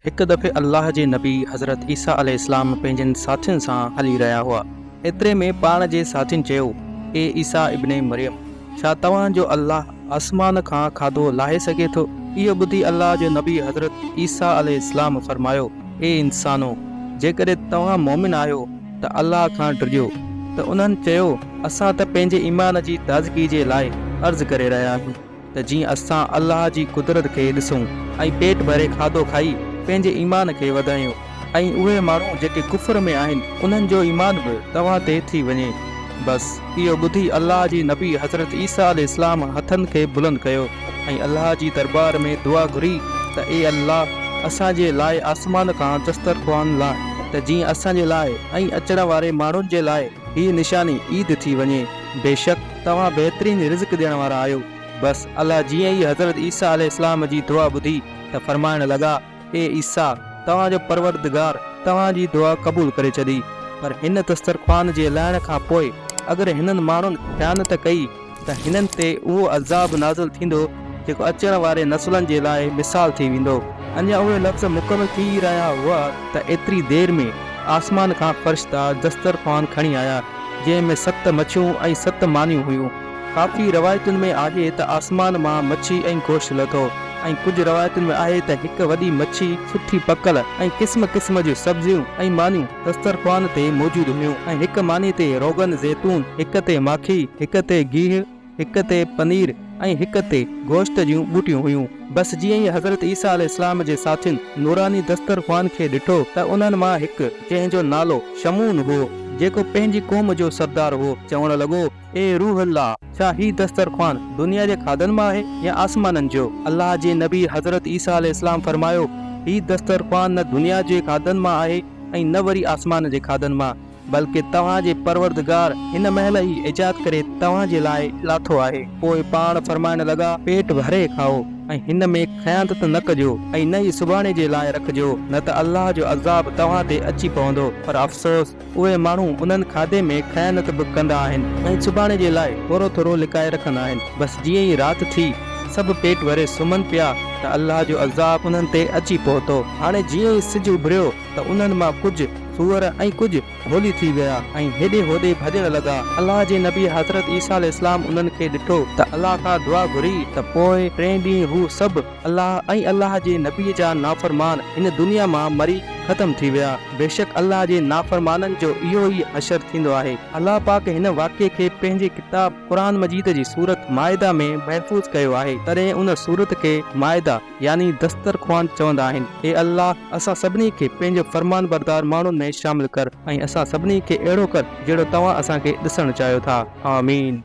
هڪ دفعي الله جي نبي حضرت عيسيٰ عليه السلام پنهنجن ساٿين سان هلي رهيا هئا. ايتري ۾ پاڻ جي ساٿين چيو، اي عيسيٰ ابن مريم! ڇا توهان جو الله آسمان کان کاڌو لاهي سگهي ٿو؟ اهو ٻڌي الله جو نبي حضرت عيسيٰ عليه السلام فرمايو، اي انسانو! جيڪڏهن توهان مؤمن آهيو ته الله کان ڊڄو. ته انهن چيو، اسان ته پنهنجي ايمان جي تازگي جي لاء عرض ڪري رهيا آهيون. ته جيئن اسان الله جي قدرت کي ڏسون ۽ پيٽ ڀري کاڌو کائي پنهنجي ايمان کي وڌايون ۽ اهي ماڻهو جيڪي ڪفر ۾ آهن انهن جو ايمان به توهان تي ٿي وڃي. بس اهو ٻڌي الله جي نبي حضرت عيسيٰ عليه السلام هٿن کي بلند ڪيو ۽ الله جي دربار ۾ دعا گهري ته اي الله اسان جي لاء آسمان کان دسترخوان لاء ته جيئن اسان جي لاء ۽ اچڻ واري ماڻهن جي لاء هيء نشاني عيد ٿي وڃي بيشڪ توهان بهترين رزق ڏيڻ وارا آهيو. بس الله جيئن ئي حضرت عيسيٰ عليه السلام جي دعا ٻڌي ته فرمائڻ لڳا، اي عيسيٰ! توهان جو پروردگار توهان جي دعا قبول ڪري ڇڏي. پر هن دسترخوان جي لهڻ کان پوء اگر هنن ماڻهن خيانت ڪئي ته هنن تي اهو عذاب نازل ٿيندو جيڪو اچڻ واري نسلن جي لاء مثال ٿي ويندو. اڃا اهي لفظ مڪمل ٿي ئي رهيا هئا ته ايتري دير ۾ آسمان کان فرشتا دسترخوان کڻي آيا. جنهن ۾ ست مڇيون ۽ ست مانيون هيون. ڪافي روايتن ۾ آهي ته آسمان مان مڇي ۽ گوشت لٿو ۽ ڪجهه روايتن ۾ آهي ته هڪ وڏي مڇي، سٺي پڪل ۽ قسم قسم جون سبزيون ۽ مانيون دسترخوان تي موجود هيون ۽ هڪ ماني تي روغن زيتون، هڪ تي ماکي، هڪ تي گيهه، هڪ تي پنير ۽ هڪ تي گوشت جون ٻوٽيون هيون. بس جيئن ئي حضرت عيسيٰ عليه السلام جي ساٿين نوراني دسترخوان کي ڏٺو ته انهن مان هڪ جنهن جو نالو شمعون هو جيڪو پنهنجي قوم جو سردار هو چوڻ لڳو اي روح الله ڇا هي دسترخوان دنيا جي کاڌن مان آهي يا آسمانن جو؟ الله جي نبي حضرت عيسيٰ عليه السلام فرمايو هي دسترخوان نه دنيا جي کاڌن مان آهي ۽ نه وري آسمان جي کاڌن مان. بلڪه توهان جي پروردگار هن مهل ئي ايجاد ڪري توهان جي لاء لاٿو آهي. پوء پاڻ فرمائڻ لڳا، پيٽ ڀري کائو ۽ هن ۾ خيانت نه ڪجو ۽ نه ئي سڀاڻي جي لاء رکجو، نه ته الله جو عذاب توهان تي اچي پوندو، پر افسوس! اهي ماڻهو انهن کاڌي ۾ خيانت به ڪندا آهن ۽ سڀاڻي جي لاء ٿورو ٿورو لڪائي رکندا آهن. بس جيئن ئي رات ٿي، سڀ پيٽ ڀري سمهن پيا ته الله جو عذاب انهن تي اچي پهتو. هاڻي جيئن ئي سج اڀريو، ته انهن مان ڪجهه سوئر ۽ ڪجهه ڀولي ٿي ويا ۽ هيڏي هوڏي ڀڄڻ لڳا. الله جي نبي حضرت عيسيٰ عليه السلام انهن کي ڏٺو ته الله کان دعا گهري ته پوء ٽئين ڏينهن هو سڀ الله ۽ الله جي نبي جا نافرمان هن دنيا مان مري ختم ٿي ويا. بيشڪ الله جي نافرمانن جو اهو ئي حشر ٿيندو آهي. الله پاڪ هن واقعي کي پنهنجي ڪتاب قرآن مجيد جي سورت مائده ۾ محفوظ ڪيو آهي تڏهن ان سورت کي مائده، يعني دسترخوان چوندا آهن، اي الله! اسان سڀني کي پنهنجو فرمانبردار ماڻهن ۾ شامل ڪر ۽ اسان سڀني کي اهڙو ڪر جهڙو توهان اسان کي ڏسڻ چاهيو ٿا. آمين.